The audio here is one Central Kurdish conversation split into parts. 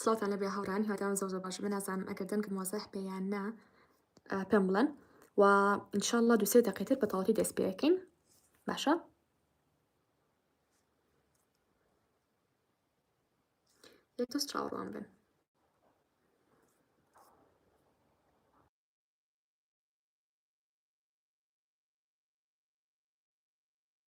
سڵاوتان لەبێ هاوڕان هیوادارم زۆر زۆر باش بنازانم ئەگەر دەنگم وازح پێیان نا پێم بڵێن و انشاءله دوسێ دەقیتر بە تەواتی دەست پێەکەین باشە یەک دەست چاوەڕوان بن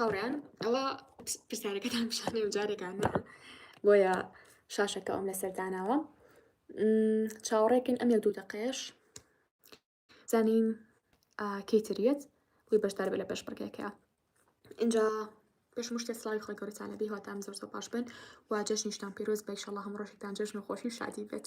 هاوڕیان ئەوە پرسیارەکەتان پیشانێ و جارێکانە بۆیە شاشەکە ئەم لە سەرداناوە چاوەڕێکن ئەم یە دوو دەقێش زانین کەیتریت بووی بەشدار بە لە پێش بڕگەکە اینجا پێش مشتە سلاوی خۆی گەورەتانە بی هاتام زۆر زۆر باش بن و جەژنیشتان پیرۆز بە شڵ هەم ڕۆژێکتان جەژن و خۆشی شادی بێت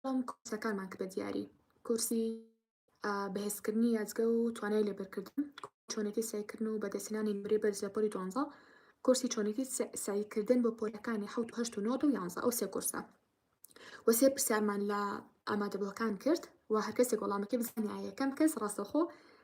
بەڵام کۆرسەکانمان کە بە دیاری کۆرسی بەهێزکردنی یادگە و توانای لێبەرکردن چۆنێتی سعیکردن و بەدەستهێنانی نمرەی بەرز لە پۆلی دوانزە کورسی چۆنێتی سعیکردن بۆ پۆلەکانی حوت و هەشت و نۆ و یانزە ئەو سێ کورسە وەسێ پرسیارمان لە ئامادەبووەکان کرد و هەرکەسێک وەڵامەکەی بزانانی یەکەم کەس ڕاستەخۆ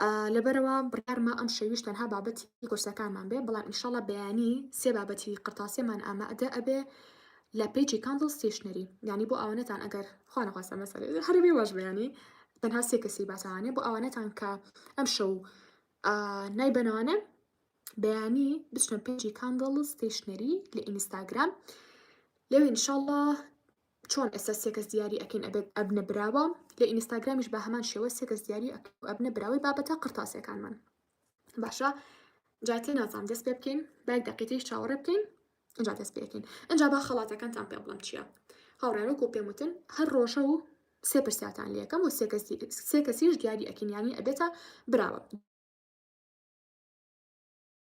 ئا لەبەرئەوە بڕیارمە ئەم شەویش تەنها بابەتی کۆرسەکانمان بێ بەڵام انشاللە بەیانی سێ بابەتی قرتاسیەمان ئامادە ئەبێ لە پەیجی کاندڵ ستەیشنەری یانی بۆ ئەوانەتان ئەگەر خوا نەخواستە ئەمە سەرێ هەرە بێ واش بەیانی تەنها سێ کەسی باسەوانێ بۆ ئەوانەتان کە ئەم شەو ئا نایبەنەوانێ بەیانی بچنە پەیجی کاندڵ ستەیشنەری لە ئینستاگرام لەوێ انشاللە چۆن ئێستا سێ کەس دیاری ئەکەین ئەبێت ئەبنە براوە لە ئینستاگرامیش بە هەمان شێوە سێ کەس دیاری ئەبنە براوەی بابەتە قڕتاسیەکانمان باشە جاتێ نازام دەست پێ بکەین باک دەقیتەیش چاوەڕێ بکەین ئەجا دەست پێکەین ئەجا با خەڵاتەکانتان پێ بڵم چییە هاوڕێرەکو پێم وتن هەر ڕۆژە و سێ پرسیاتان لەکەم و سێ کەسیش دیاری ئەکینیانی ئەبێتە براوە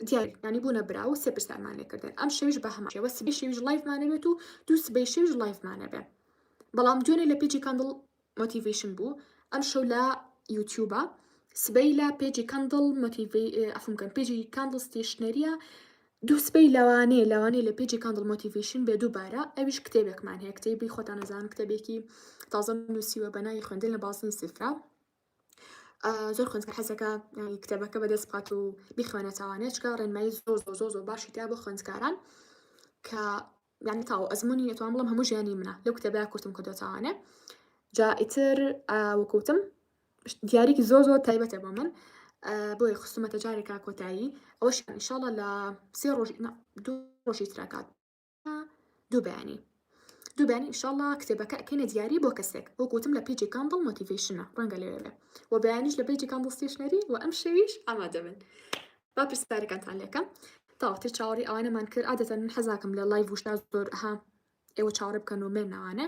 دیارە یانی بوونە برا و سێ پرسیارمان لێ کردن ئەم شەویش بە هەمان شێوە سبەی شەویش لایڤمانە بێت و دوو سبەی شەویش لایڤمانە بێ بەڵام دوێنێ لە پێجی کاندڵ مۆتیڤیشن بوو ئەم شەو لە یوتیوبە سبەی لە پێجی کاندڵ مۆتیڤی ئەفم کەم پێجی کاندڵ ستیشنەریە دوو سبەی لەوانەیە لەوانەیە لە پێجی کاندڵ مۆتیڤیشن بێ دووبارە ئەویش کتێبێکمان هەیە کتێبی خۆتان نەزان کتێبێکی تازە نووسیوە بە ناوی خوێندن لە بازنی سفرە زۆر خوێندکار حەزەکە کتێبەکە بەدەست بخات و بیخوێنە چاوانێ چکە ڕێنمایی زۆر زۆر زۆر زۆر باشی تیا بۆ خوێندکاران کە یان تاو ئەزمموی نێتوان بڵم هەموو ژیانی منە لەو کتێبە کورتم کە دۆچوانێ جا ئیتر وەکوتم دیارێکی زۆر زۆر تایبەتە بۆ من بۆی خستومەتە جارێکا کۆتایی ئەوش ئینشاڵە لە سێ ڕۆژ دوو ڕۆژی تراکات دوو بەیانی دوو بەیانی ئیشاڵا کتێبەکە ئەکەینە دیاری بۆ کەسێک بۆ گوتم لە پیجی کامبڵ مۆتیڤیشنە ڕەنگە لەوێ بێ و بەیانیش لە پیجی کامبڵ ستێشنەری و ئەم شەویش ئامادە بن با پرسیارەکانتان لەکەم تاوەتی چاوەڕی ئەوانەمان کرد عادەتەن من حەزاکەم لە لای وشتا زۆر ها ئێوە چاوەڕێ بکەن و مێنەوانە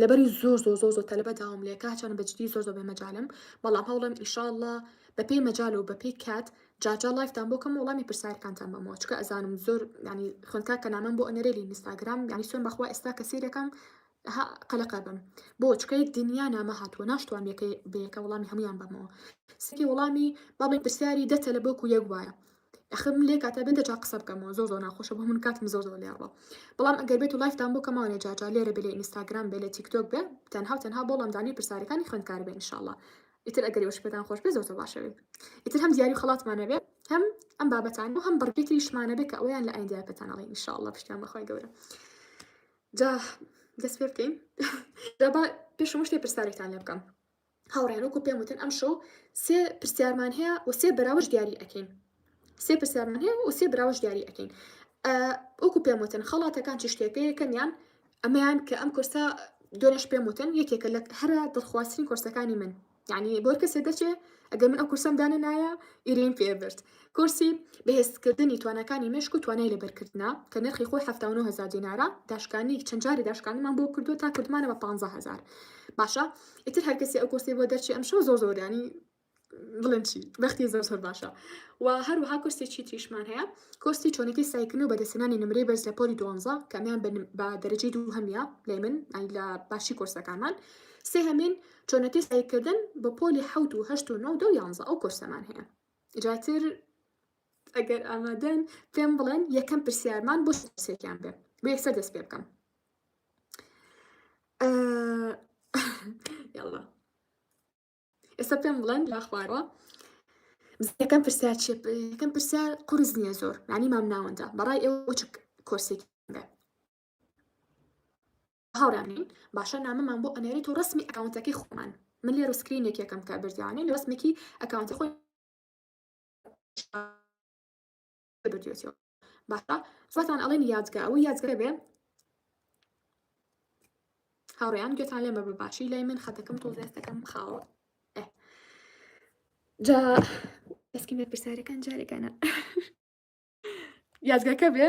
لەبەری زۆر زۆر زۆر زۆر تەلەبە داوام لێ کا چەند بەجدی زۆر زۆر بێ مەجالم بەڵام هەوڵم ئیشاءاللە بەپێی مەجال و بەپێی کات جاجا لایفتان بۆ کەم وڵامی پرسیارکانتان بەمەوە چکە ئەزانم زۆر ینی خوێندکا کە نامەم بۆ ئەنەرێلی نیستاگرام ینی سوێن بەخوا ئێستا کە سیرەکەم ها قەلەقە بم بۆ چکە یەک دنیا نامە هاتووە ناشتوان یەکەی بەیەکە وڵامی هەمویان بەمەوە سکی وڵامی بابی پرسیاری دە تەلەبۆک و یەک وایە ئەخر من لێ کاتە بێت جا قسە بکەمەوە زۆر زۆر ناخۆشە بۆ من کاتم زۆر زۆر لێڕوە بەڵام ئەگەر بێت و لایفتان بۆ کەمەوە لە جاجا لێرە بێ لە ئینستاگرام بێ لە تیکتۆک بێ تەنها و تەنها بۆ لەمدانی پرسیارەکانی خوێندکار بێ انشاءالله ئیتر ئەگەر وەش پێتان خۆش بێ زۆر باشەوێ ئیتر هەم دیاری خڵاتمانە بێ هەم ئەم بابەتان و هەم بڕگەی تریشمانە بێ کە ئەویان لە ئایندیا پێتانەڵی انشاءالله پشتیان بەخوای گەورە جا دەست پێ بکەین دابا پێشمشتێ پرسیارێکتان لێ بکەم هاوڕێیان وەکو پێم وتن ئەمشەو سێ پرسیارمان هەیە و سێ بەراوەش دیاری ئەەکەین سێ پرسیارمان هەیە و سێ براوەش دیاری ئەەکەین وەکو پێم وتن خەڵاتەکان چ شتێکەیە کەمیان ئەمەیان کە ئەم کورسە دۆنش پێم وتن یەکێکە لە هەرە دڵخوازترین کورسەکانی من یعنی بۆر کەسێ دەچێ ئەگەر من ئەو کورسم دانە نایە ئیرین پێبرد کورسی، بەهێزکردنی تواناکانی مێشک و توانای لەبەرکردنە، کە نرخی خۆی حەفتا و نۆ هەزار دینارە، داشکانی، چەند جاری داشکانیمان بۆ کردووە تا کردمانە بە پانزە هەزار. باشە ئیتر هەر کەسێ ئەو کورسەی بۆ دەرچێ ئەمشەو زۆر زۆر یانی بڵێن چی بەختی زۆر زۆر باشە و هەروەها کورسێکی تریشمان هەیە کورسی چۆنەکەی سایکردن و بەدەستنانی نمرەی بەرز لە پۆلی دوانزە کە ئەمیان بە نم- بە دەرەجەی دوو هەمیە لای من ئەی لە باشی کورسەکانمان سێهەمین چۆنەکەی سایکردن بە پۆلی حەوت و هەشت و نۆ و دە و یانزە ئەو کورسەمان هەیە جاتر ئەگەر ئامادەن پێم بڵێن یەکەم پرسیارمان بۆ سێکیان بێ بۆ یەکسە دەست پێ بکەم یاڵە ئێستا پێم بڵێن لا خوارەوە یەکەم پرسیار چێ یەکەم پرسیار قرس نییە زۆر نانی مام ناوەندە بەڕای ئێوە چ کۆرسێکی بێ هاورام نین باشە نامەمان بۆ ئەنێریت و ڕەسمی ئەکاونتەکەی خۆمان من لێرو سکرینێک یەکەم کە بردیانین ڕەسمێکی ئەکاونتی خۆی بردوێتەوە باشە زۆرتان ئەڵێن یادگە ئەوە یادگەرە بێ هاوڕێیان گوێتان لێمە بە باشی لای من خەتەکەم تۆ دەستەکەم خاوە جا ئەسکی مێ پرسیارەکان جارێکانە یادگەکە بێ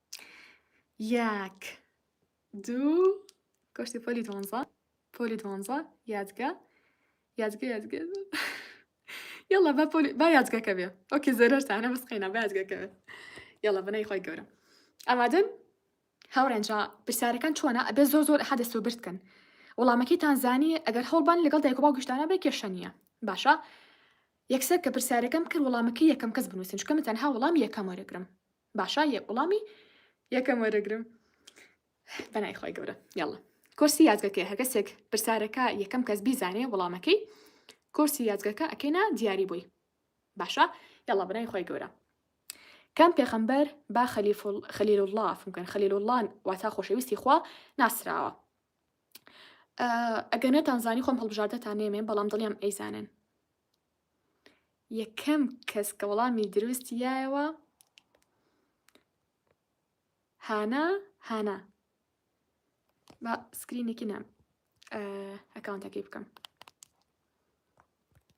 یەک دوو کۆشتی پۆلی دوانزە پۆلی دوانزە یادگە یادگە یادگە یاڵا با پۆلی با یادگەکە بێ ئۆکێ زەرەرتانە بەس قەینا با یادگەکە بێ یاڵا بەنای خۆی گەورە ئامادەن هاوڕێنجا پرسیارەکان چۆنە ئەبێ زۆر زۆر ئەحە دەست و برد کەن وەڵامەکەی تانزانی ئەگەر هەڵبان لەگەڵ دایک و باو گشتانە بێ کێشە نییە باشە یەکسەر کە پرسیارەکەم کرد وەڵامەکە یەکەم کەس بنووسن چکە من تەنها وەڵام یەکەم وەرەگرم باشە یەک وڵامی یەکەم وەرەگرم بەنای خۆی گەورە یاڵە کۆرسی یازگەکەی هەگەسێک پرسارەکە یەکەم کەس بیزانێ وەڵامەکەی کۆرسی یازگەکە ئەکەینا دیاری بووی باشە یاڵە بەنای خۆی گەورە کام پێخەمبەر با خەلیل الله فمکەن خەلیل الله واتا خۆشەویستی خوا ناسراوە ئەگەنێتان زانی خۆم هەڵبژاردەتان نێمێ بەڵام دڵیان ئەیزانن یەکەم کەس کە وەڵامی دروستی دایەوە هانا هانا با سکرینێکی نام ئەکاونتەکەی بکەم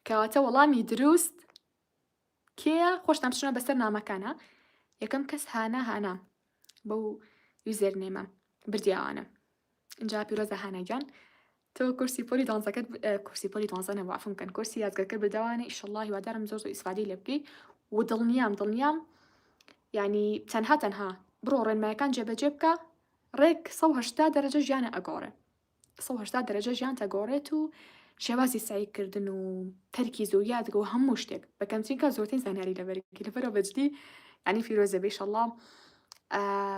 کەواتە وەڵامی دروست کێە خۆشتان بچنە بەسەر نامەکانە یەکەم کەس هانا هانا بەو یوزەر نێمە بردیاوانە جا پیرۆزە هانا گیان تۆ کورسی پۆلی دوانزەکەت کورسی پۆلی دوانزە نەبوو عەفوم کەن کورسی یادگەکە بردەوانە ئیشەڵڵا هیوادارم زۆر زۆر ئیسفادەی لێ بکەی و دڵنیام دڵنیام یعنی تەنها تەنها بڕۆ ڕێنمایەکان جێبەجێ بکە ڕێک 1970 دەرەجە ژیانە ئەگۆڕێ 1970 دەرەجە ژیان تەگۆڕێت و شێوازی سعیکردن و تەرکی زۆر یادگە و هەموو شتێک بەکەمچینکە زۆرترین زانیاری لەبەرکی لەبەرەوە بەجدی ینی فیرۆزە بێشەڵام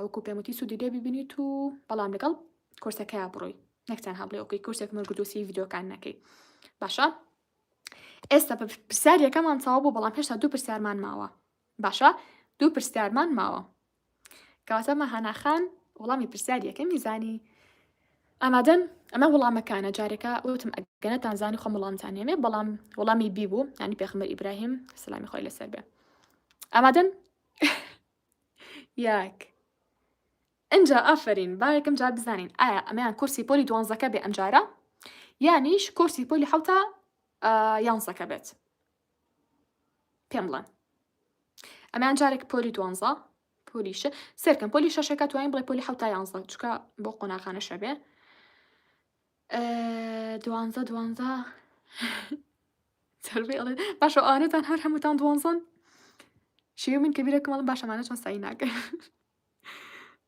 وەکو پێم وتی سوودی لێ ببینیت و بەڵام لەگەڵ کورسەکەیا بڕۆی نەک تەنها بڵێ ئۆکەی کورسێک مەرگدوسی ڤیدۆکان نەکەی باشە ئێستا بە پرسیارەکەمان تەوا بوو بەڵام هێشتا دوو پرسیارمان ماوە باشە دوو پرسیارمان ماوە کەواتە مەهاناخان وڵامی پرسیارەکە میزانی ئامادەن ئەمە وڵامەکانە جارێکە وتم ئەگەنەتان زانی خۆم وڵامتان هێمێ بەڵام وڵامی بیبوو ینی پێخمە ئیبراهیم سلامی خۆی لەسەر بێ ئامادەن یاک. ئینجا ئافەرین با یەکەم جار بزانین ئایا ئەمەیان کورسی پۆلی دوانزەکە بێ ئەمجارە یانیش کورسی پۆلی حوتا یانزەکە بێت پێم بڵێن ئەمان جارێک پۆلی دوانزە پۆلیشە سەرکەم پۆلی شەشەکە توانین بڵێ پۆلی حوتا یانزە چکە بۆ قۆناغانە شەبێ دوانزە دوانزە سەربێ ئەڵێ باشە ئەوانەتان هەر هەمووتان دوانزەن شێوی من کە بیرەکەم ئەڵم باشە ئەمانە چۆن سەعی ناکەن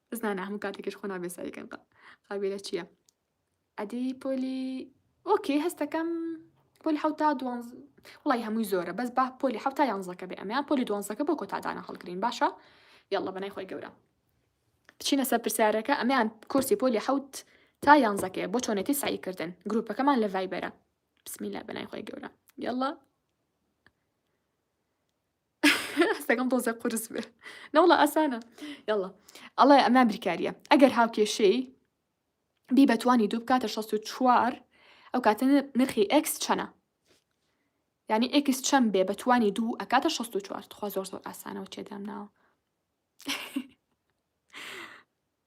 بەس نا نا هەموو کاتێکیش خۆ نابێ سەعیکەن قا قابیلە چییە ئەدی پۆلی ئۆکێ هەستەکەم پۆلی حوتا دوانز وڵی هەمووی زۆرە بەس با پۆلی حوتا یانزەکە بێ ئەمیان پۆلی دوانزەکە بۆ کۆتادانە هەڵگرین باشە یاڵە بەنای خۆی گەورە بچینە سەر پرسیارەکە ئەمیان کورسی پۆلی حوت تا یانزەکەیە بۆ چۆنێتی سعیکردن گروپەکەمان لە ڤایبەرە بسم الله بەنای خۆی گەورە یاڵا هەستەکەم تۆزە قورس بێ نەوڵە ئاسانە یاڵا ئەڵێ ئەمە بریکاریە ئەگەر هاوکێشەی بی بەتوانی دوو بکاتە 64 ئەو کاتە نرخی ئەکس چەنە ینی ئەکس چەم بێ بەتوانی دوو ئەکاتە 64 خوا زۆر زۆر ئاسانەوە تێدام ناوە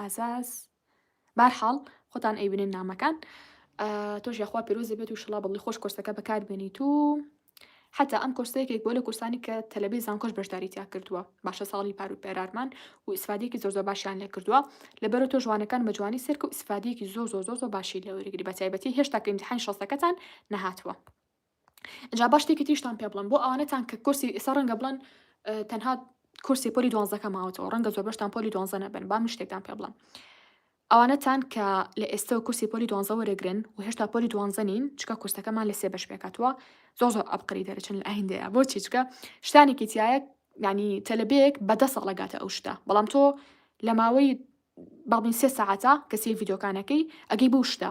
ئازاز بارحاڵ خۆتان ئەیبنن نامەکان تۆش یاخوا پیرۆزی بێت و شڵا بڵی خۆش کۆرسەکە بەکار بێنی تو حتا ئەم کۆرسەیەکێک بۆ لە کورسانی کە تەلەبی زانکۆش بەشداری تیا کردووە باشە ساڵی پارو پێرارمان و ئیسفادێکی زۆر زۆر باشیان لێ کردووە لەبەرە تۆ جوانەکان بە جوانی سەرکە و ئیسفادێکی زۆر زۆر زۆر زۆر باشی لەوەرگری بە تایبەتی هێشتا کە ئیمتحانی شەستەکەتان نەهاتووە جا با شتێکی تریشتان پێ بڵێم بۆ ئەوانەتان کە کورسی ئێستا ڕەنگە بڵێن تەنها کورسی پۆلی دوانزەکە ماوەتەوە ڕەنگە زۆر بەشتان پۆلی دوانزە نەبن با من شتێکتان پێ بڵێم ئەوانەتان کە لە ئێستا و کورسی پۆلی دوانزە وەرەگرن و هێشتا پۆلی دوانزە نین چکە کورسەکەمان لە سێ بەش پێکاتوە زۆ زۆر ئەبقری دەرەچن لە ئایندەیە بۆ چیچکە شتانێکی تایە ینی تەلبێک بەدە ساڵەگاتە ئەو شتە بەڵام تۆ لە ماوەی باڵین سێ ساعتە کە سێ یددیوکانەکەی ئەگەی بەو شتە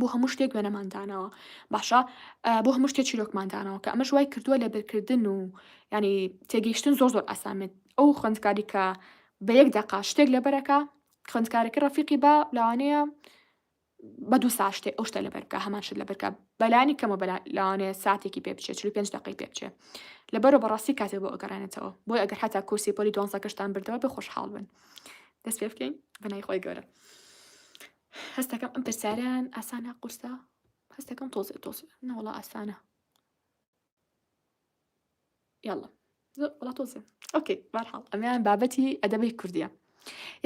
بۆ هەموو شتێک وێنەمان داناوە باشە بۆ هەموو شتێک چیرۆکمان داناوە کە ئەمەش وای کردووە لە بەرکردن و ینی تێگەیشتن زۆر زۆر ئاسامێت ئەو خوندکاری کە بە یەک دەقا شتێک لەبەرەکە خوندکارەکە ڕەفیقی بە لاوانەیە بە دوو سا شتێک ئەو شتە لە بەرکە هەمان شت لە بەرکە بەلانی کەمە لاوانەیە ساتێکی پێ بچێت چ پێنج دقی پێ بچێت لەبەرە بەڕاستی کاتێ بۆ ئەگەڕێنێتەوە بۆی ئەگەر حتا کورسی پۆلی دۆنزەکەشتان بردەوە بە خۆشحاڵ بن دەست پێ بکەین بەنای خۆی گەورە هەستەکەم ئەم پرسیارەیان ئاسانە قورسە هەستەکەم تۆزێ تۆزێ نەوەڵا ئاسانە یاڵە وڵا تۆزێ ئۆکەی بارحاڵ ئەمیان بابەتی ئەدەبەی کوردیە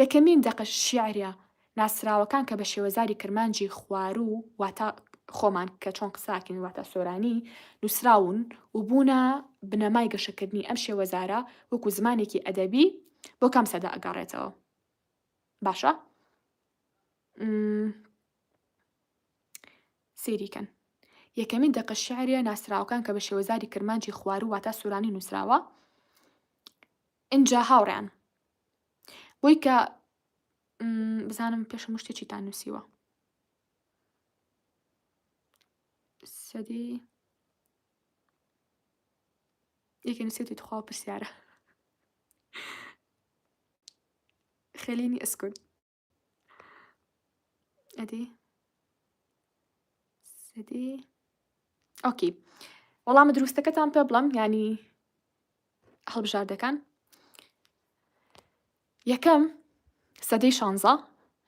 یەکەمین دەقە شیعرە ناسراوەکان کە بە شێوەزاری کرمانجی خوارو واتا خۆمان کە چۆن قساکین واتە سۆرانی نووسراون و بوونە بنەمای گەشەکردنی ئەم شێوەزارە وەکو زمانێکی ئەدەبی بۆ کام سەدا ئەگەڕێتەوە باشە سیریکەن یەکەمین دەقە شعریە ناسراوەکان کە بە شێوەزاری کرمانجی خوارو واتا سورانی نووسراوە ئینجا هاوڕیان بۆی کە بزانم پێشە مشتێکی تا نووسیوە سەدی یەکێ نووسێتی تخوا پرسیارە خەلینی ئەسکن ئەدی سەدی ئۆکی وەڵامە دروستەکەتان پێ بڵم ینی هەڵبژاردەکان یەکەم سەدەی شانزە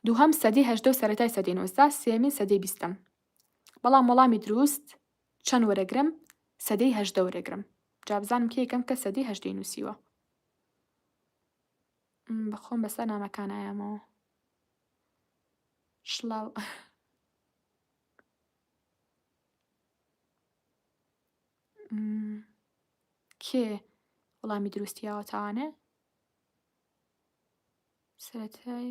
دووهەم سەدی هەشتە و سەتای سەدەی نوزدا سێمین سەدەی بیستم بەڵام وەڵامی دروست چەند وەرەگرم سەدەی هەژدە وەرەگرم جا بزانم کێ یەکەم کەس سەدەی هەژدەی نووسیوە بەخۆم بەسەر نامەکان ئایامەوە شڵاو کێ وەڵامی دروستیاوە تاوانێ سەتای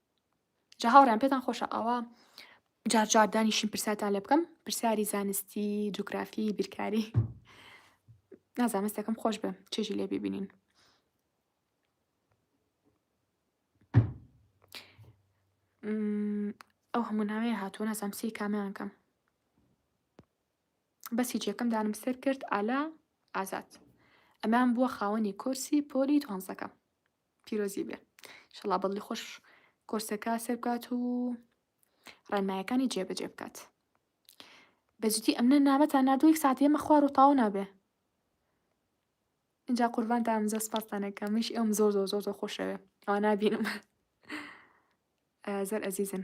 جا هاوڕیان پێتان خۆشە ئاوا جار جار دانیشین پرساتان لێ بکەم پرسیاری زانستی جوگرافی بیرکاری نازانستەکەم خۆش بە چێژی لێ ببینین ئەو هەموو ناوێ هاتوو نازام سی کامیان کەم بەسی جێکەم دانم سەر کرد ئالا ئازاد ئەمان بووە خاوەنی کۆرسی پۆلی دوانزەکە پیرۆزی بێ شەڵا بەڵی خۆش کۆرسەکە سەر بکات و ڕێنمایەکانی جێبەجێ بکات بەجدی ئەمنە نامەتان نردوو یەک ساعتی ئەمە خوار و تاو نابێ اینجا قوربان دام زۆر سپاسانەکە منش ئەم زۆر زۆر زۆر زۆر خۆشەوێ ئەوە نابینم زۆر ئەزیزن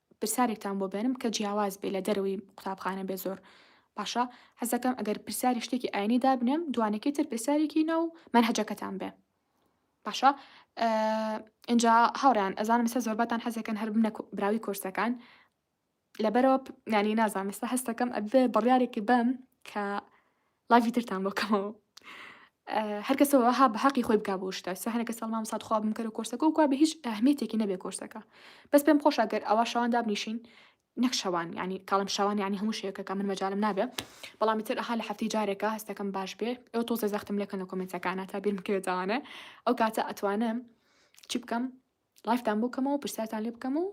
پرسیارێکتان بۆ بێنم کە جیاواز بێ لە دەرەوەی قوتابخانە بێ زۆر باشە حەزەکەم ئەگەر پرسیاری شتێکی ئاینی دابنێم دوانەکەی تر پرسیارێکی ناو مەنهەجەکەتان بێ باشە ئینجا هاوڕیان ئەزانم سە زۆربەتان حەزەکەن هەر بنە براوی کورسەکان لەبەرەوە نانی نازانم ئێستا هەستەکەم ئەبێ بڕیارێکی بەم کە ڵایڤی ترتان بۆ کەمەوە. هەر کەسە وەها بە هەقی خۆی بکا بۆ شتە سەهەنە کە سەڵ مامسات خوا بم کەرە کۆرسەکە و کوا بە هیچ ئەهمیەتێکی نەبێ کۆرسەکە بەس پێم خۆشە گەر ئەوا شەوان دابنیشین نەک شەوان ینی کاڵم شەوان ینی هەموو شەیەکەکە من مەجالم نابێ بەڵامی تر ئەها لە هەفتی جارێکە هەستەکەم باش بێ ئەو تۆزە زەختم لەکەن لە کۆمنتەکانە تا بیرم کرێ داوانە ئەو کاتە ئەتوانم چی بکەم لایڤتان بۆ کەمەوە پرسیارتان لێ بکەم و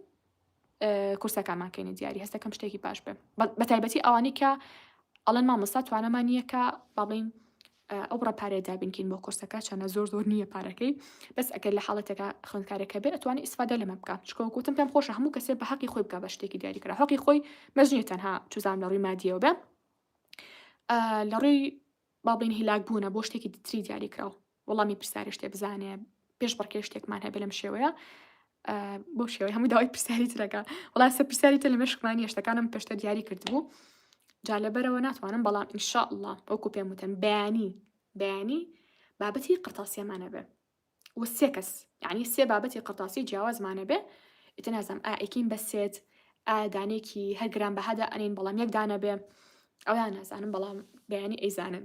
کورسەکانمان کەینە دیاری هەستەکەم شتێکی باش بێ بە تایبەتی ئەوانی کە ئەڵەن مامۆستا توانەمان نییە کە باڵین ئەو بڕە پارێ دابینکین بۆ کورسەکە چەنە زۆر زۆر نییە پارەکەی بەس ئەگەر لە حاڵەتەکە خوێندکارەکە بێت ئەتوانی ئیسفادە لەمە بکە چکۆکوتم پێم خۆش هەموو کەسێ بە حەقی خۆی بکە بە شتێکی دیاریکرا حقی خۆی مەزنیە تەنها چزان لە ڕووی مادیەوە بێ لە ڕووی بابلین هیلاک بوونە بۆ شتێکی تری دیاریکراوە وەڵامی پرسیارە شتێ بزانێ پێش بڕکێ شتێکمان هەبێ لەم شێوەیە بۆ شێوەی هەموو داوای پرسیاری ترەکە وڵاسە پرسیاری تە لە مشکمانی شتەکانم پێشتە دیاری کردبوو جا لەبەرەوە ناتوانم بەڵام ئینشاء الله وەکو پێم وتن بەیانی بەیانی بابەتی قرتاسیەمانە بێ و سێ کەس یعنی سێ بابەتی قرتاسی جیاوازمانە بێ ئیتە نازم ئائکین بەسێت ئادانێکی هەرگران بەهادا ئەنین بەڵام یەک دانە بێ ئەویان نازانم بەڵام بەیانی ئەیزانن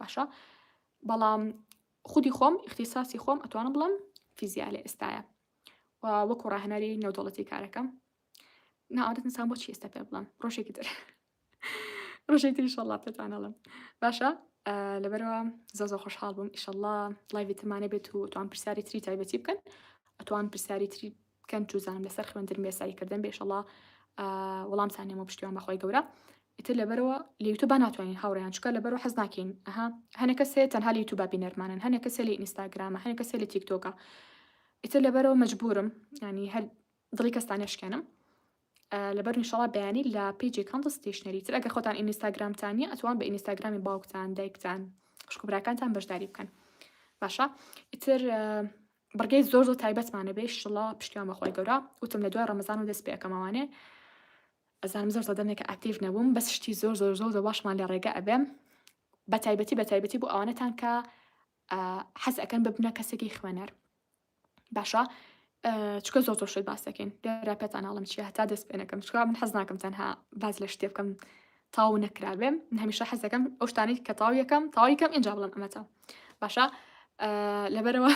باشە بەڵام خودی خۆم اختصاصی خۆم ئەتوانم بڵم فیزیا لە ئێستاە وەکو ڕاهنەری نێودوڵەتی کارەکەم ناوەت نسان بۆ چێستە پێ بڵم ڕۆژێکی تر ڕۆژێک تری شەڵا پێتوانەڵم باشە لەبەرەوە زۆ زۆ خۆشحاڵ بووم ئیشەڵا لایڤی تمانە بێت و توان پرسیاری تری تایبەتی بکەن ئەتوان پرسیاری تری بکەن چوزانم لەسەر خوێندن بێ سەعی کردن بێ شەڵا وەڵام سانێم و پشتیوان بەخوای گەورە ئیتر لەبەرەوە لەیوتو با ناتوانین هاوڕیان چکە لەبەرو حەز ناکەین ئەها هەنە کەسێ تەنها لە یوتوبا بینەرمانن هەنە کەسێ لە ئینستاگرامە هەنە کەسێ لە تیکتۆکە ئیتر لەبەرەوە مەجبورم ینی هەر دڵی کەستان نشکێنم لەبەر نیشەڵا بەیانی لە پیجی کەندڵ ستیشنەری تر ئەگەر خۆتان ئینستاگرامتانە ئەتوان بە ئینستاگرامی باوکتان دایکتان خوشکبراکانتان بەشداری بکەن باشە ئیتر بڕگەی زۆر زۆر تایبەتمانە بێ شڵا پشتیان بەخوای گەورە وتم لە دوای ڕەمەزان و دەست پێکەمەوانێ ئەزانم زۆر زەدەمێکە ئاکتیڤ نەبووم بەس شتی زۆر زۆر زۆر زە باشمان لە ڕێگە ئەبێم بە تایبەتی بە تایبەتی بۆ ئەوانەتان کە حەز ئەەکەن ببنە کەسێکی خوێنەر باشە چکە زۆر زۆر شت باس دەکەین لێرا پێتان ناڵم چی هەتا دەست پێنەکەم چکا من حەز ناکەم تەنها باز لە شتێ بکەم تەواو نەکرابێ من هەمیشە حەز دەکەم ئەو شتانەی کە تەواو یەکەم تەواو یەکەم ئینجا بڵێم ئەمە تەواو باشە لەبەرەوە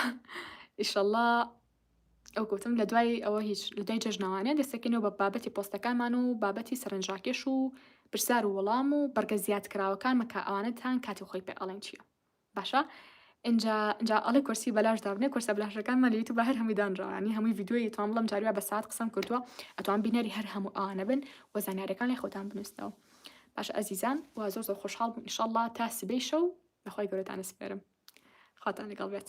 ئیشەڵڵا ئەو گوتم لە دوای ئەوە هیچ لە دوای جەژنەوانێ دەستەکەینەوە بە بابەتی پۆستەکانمان و بابەتی سەرنجڕاکێش و پرسیار و وەڵام و بەرگە زیاد کراوەکانمە کە ئەوانەتان کاتی خۆی پێ ئەڵێن چییە باشە ئینجا ئینجا ئەڵێ کورسی بەلاش دابنێ کورسە بلاشەکانمان لە یوتوبە هەر هەمووی دانراوە یانی هەمووی ڤیدیۆیی توام بڵێم جار وا بە سات قسەم کردووە ئەتوان بینەری هەر هەموو ئەوانە بن و زانیارییەکان لای خۆتان بنووسنەوە باشە ئەزیزان وا زۆر زۆر خۆشحاڵ بووم ئینشەڵڵا تا سبەی شەو بەخوای گەورەتان ئەسپێرم خواتان لەگەڵ بێت